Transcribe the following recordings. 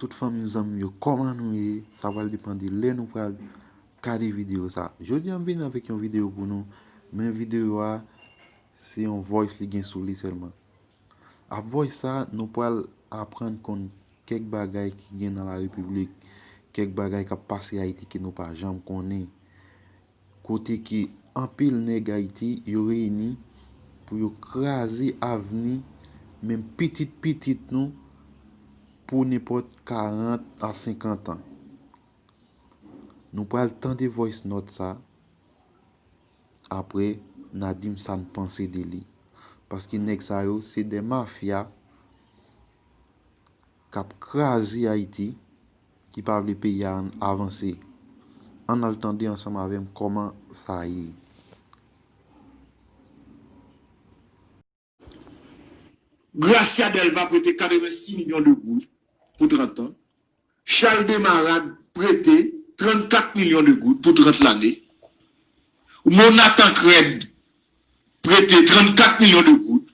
Tout fanmiw zanmiw yo kòman nou ye sa pral depan de lè nou pral gade video sa jodia m vini avèk yon video pou nou men video a se yon voice li gen sou li sèlman ap voice sa nou pral aprann konn kèk bagay ki gen nan la repiblik kèk bagay kap pase ayiti ke nou pa janm konnen Kote ke anpil nèg Ayiti yo reyini pou yo kraze avni menm pitit pitit nou pou nenpòt 40 a 50 an. Nou pral tande voice note sa, aprè na di m sa n panse de li. Paske nèg sa yo se 2 mafya. kap kraze Haiti ki pa vle peyi a avanse ann al tande ansanm avèm kòman sa ye. Gracia Delva prete 86 milyon de goud pou 30 an, Charles Desmarade prete 34 milyon de goud pou 30 lane, Rmona Tancrède prete 34 milyon de goud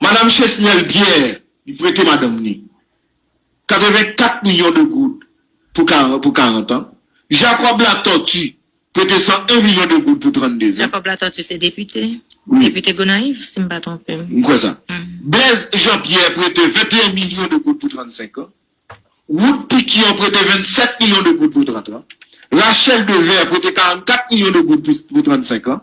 Madam Chesnel Pierre li prete madanm ni 84 milyon de goud pou 40 an, Jacob Latortue prete 101 milyon de goud pou 32 zan. Jacob Latortue se depite? Wi. Depite Gonayiv si m pa twonpe m. M kwè sa. Blaise Jean Pierre prete 21 milyon de goud pou 35 an, Wood Piquion prete 27 milyon de goud pou 30 an, Rachel Devert prete 44 milyon de goud pou 35 an,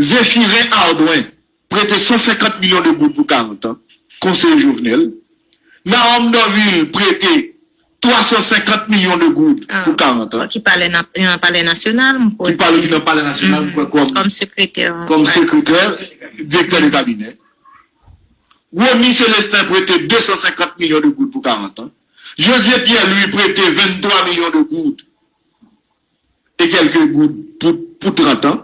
Zephyrin Ardouin prete 150 milyon de goud pou 40 an, konseye Jovenel. Nahom Dorvil prete 350 milyon de goud pou 40 an. Ki pale nan palè nasyonal, m kwè. Ki pale nan palè nasyonal, m kwè, kòm. Kòm sekretè. Kòm sekretè, direktè de kabinè. Rony Celestin prete 250 milyon de goud pou 40 an. Josué Pierre Louis prete 23 milyon de goud. e kèlke goud pou 30 an,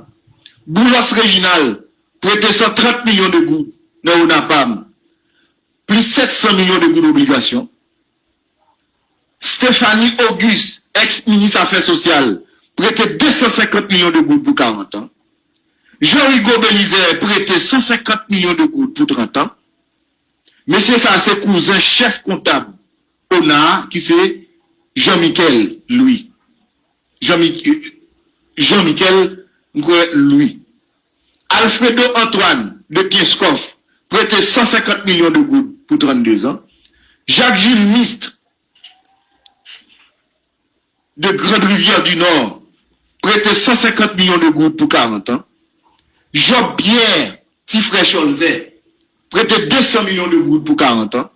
Boulos Reginald prete 130 milyon de goud nan Onapam, plis 700 milyon de goud obligasyon, Stephanie Auguste, èks minis afè sosyal, prete 250 milyon de goud pou 40 an, Jean Rigaud Belizaire prete 150 milyon de goud pou 30 an, mesye sa se kouzen chèf kontab Ona a ki se Jean Michel Louis Jean Michel Jean Michel m kwè Louis Alfredo Antoine de Kenskòf prete 150 milyon de goud pou 32 zan Jacques Jules Mist de Grande Rivière du Nord prete 150 milyon de goud pou 40 an, Job Pierre, ti frè Cholzè, prete 200 milyon de goud pou 40 an,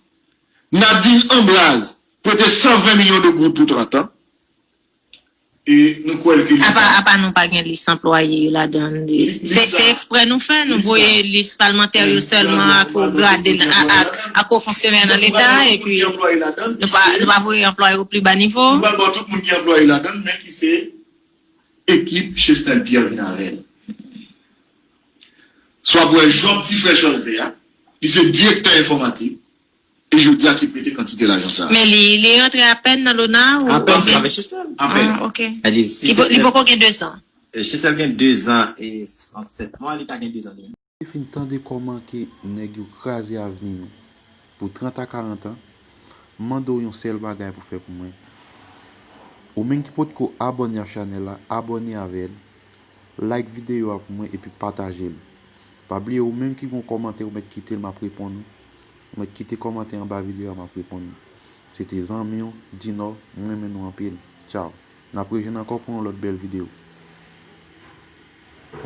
Nadine Ambraz prete 120 milyon de goud pou 30 an, e nou kwè l ke li sa. Apa nou pa gen lis anplwaye yo ladan l. Se eksprè nou fè, nou voye lis palmantè yo sèlman ak ou gradel ak. ak wo fonksyonè nan Leta epi nou pa voye anplwaye o pli ba nivo. Nou pral ba w tout moun ki anplwaye ladann men ki se ekip Chesnel Pierre vin avè l. S w ap wè Job ti frè Cholze a, li se direktè enfòmatik e jodi a ki prete kantite lajan sa a. Men li rantre apèn nan Lona ou? Apèn se avèk Chesnel. Apèn. Ah ok. Li poko gen dezan. Chesnel gen dezan e sèt mwa, li ka gen dezan demi. Mwen te fin tande kòman ke nèg yo kraze avni nou pou 30 a 40 an, m mande w yon sèl bagay pou fè pou mwen, ou menm ki potko abòne a chanèl la, abòne avè l, like videyo a pou mwen epi pataje l. Pa bliye ou menm ki gen yon kòmantè ou mèt kite l m ap reponn ou, ou mèt kite kòmantè anba videyo a m ap reponn ou. Se te zanmi w, Dinò, m renmen nou anpil. Tchaw. N ap rejwenn ankò pou yon lòt bèl videyo.